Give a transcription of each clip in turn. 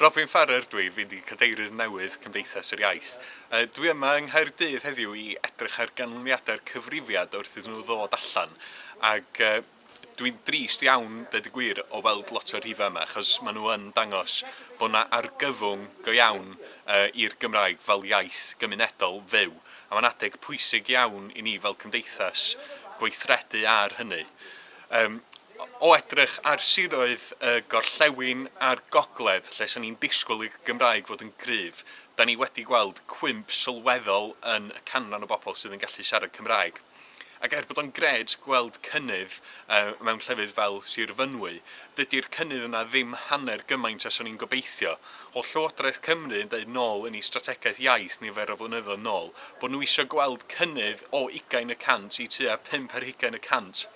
Robin Farrer dw i, fi'n Cadeirydd newydd Cymdeithas yr Iaith. Dw i yma yng Nghaerdydd heddiw i edrych ar ganlyniadau'r cyfrifiad wrth iddyn nhw ddod allan ac dw i'n drist iawn, deud y gwir, o weld lot o'r rhifau yma achos maen nhw yn dangos bod yna argyfwng go iawn i'r Gymraeg fel iaith gymunedol fyw a mae'n adeg pwysig iawn i ni fel cymdeithas gweithredu ar hynny. Yym, o edrych ar siroedd y gorllewin a'r gogledd, lle 'sen ni'n disgwyl i'r Gymraeg fod yn gryf, 'dan ni wedi gweld cwymp sylweddol yn y canran o bobl sydd yn gallu siarad Cymraeg. Ac er bod o'n grêt gweld cynnydd yy mewn llefydd fel Sir Fynwy, dydi'r cynnydd yna ddim hanner gymaint â 'swn i'n gobeithio. Oedd Llywodraeth Cymru yn deud nôl yn eu strategaeth iaith nifer o flynyddoedd nôl bod nhw eisiau gweld cynnydd o ugain y cant i tua pump ar hugain y cant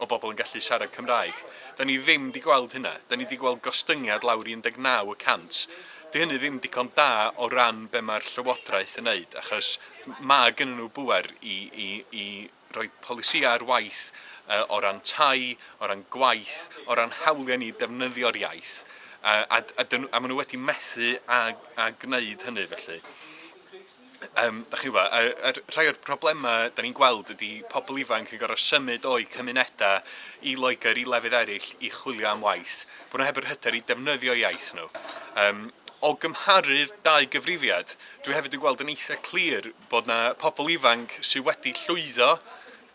o bobl yn gallu siarad Cymraeg. Dan ni ddim 'di gweld hynna. Dan ni 'di gweld gostyngiad lawr i 19 y cant. Dydy hynny ddim digon da o ran be mae'r Llywodraeth yn wneud, achos mae gennyn nhw bŵer i i i rhoi polisïau ar waith o ran tai, o ran gwaith, o ran hawliau ni i ddefnyddio'r iaith, a, a, a, dyn, a maen nhw wedi methu a, a gwneud hynny felly. Um, da chi'n gwybod, a, a rhai o'r problemau da ni'n gweld ydy pobl ifanc yn gorfod symud o'i cymunedau i Loegr, i lefydd eraill, i chwilio am waith. Bod nhw heb yr hyder i defnyddio iaith nhw. Um, o gymharu'r dau gyfrifiad, dwi hefyd yn gweld yn eitha clir Bod 'na pobl ifanc sy' wedi llwyddo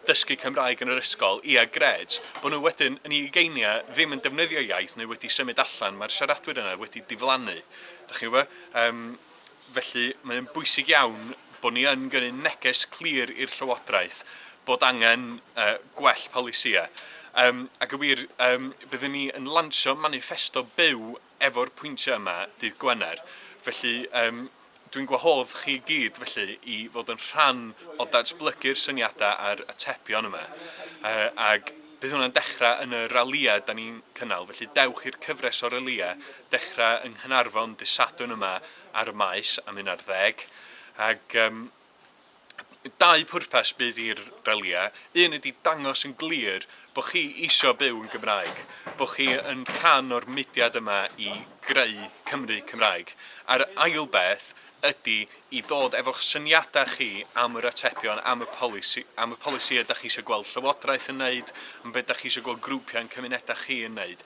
dysgu Cymraeg yn yr ysgol, ia grêt. Bod nhw wedyn yn eu ugeiniau ddim yn defnyddio'u iaith neu wedi symud allan, mae'r siaradwyr yna wedi diflannu. Dach chi'n gwybod? Yym, felly mae o'n bwysig iawn bod ni yn gyrru neges clir i'r Llywodraeth bod angen yy gwell polisïau. Yym, ac yn wir, yym, byddwn ni yn lansio maniffesto byw efo'r pwyntiau yma dydd Gwener. Felly, yym, dwi'n gwahodd chi i gyd, felly, i fod yn rhan o datblygu'r syniadau a'r atebion yma. Uh, ag bydd hwnna'n dechrau yn y ralïau da ni'n cynnal, felly dewch i'r cyfres o ralïau dechrau yng Nghynarfon dydd Sadwrn yma ar y Maes am un ar ddeg. Ag, um, dau pwrpas bydd i'r ralïau, un ydi dangos yn glir bod chi isio byw yn Gymraeg, bod chi yn rhan o'r mudiad yma i greu Cymru Cymraeg, a'r ail beth ydi i ddod efo'ch syniadau chi am yr atebion, am y polisi, am y polisïau da chi isio gweld Llywodraeth yn wneud, am beth da chi isio gweld grwpiau yn cymunedau chi yn wneud.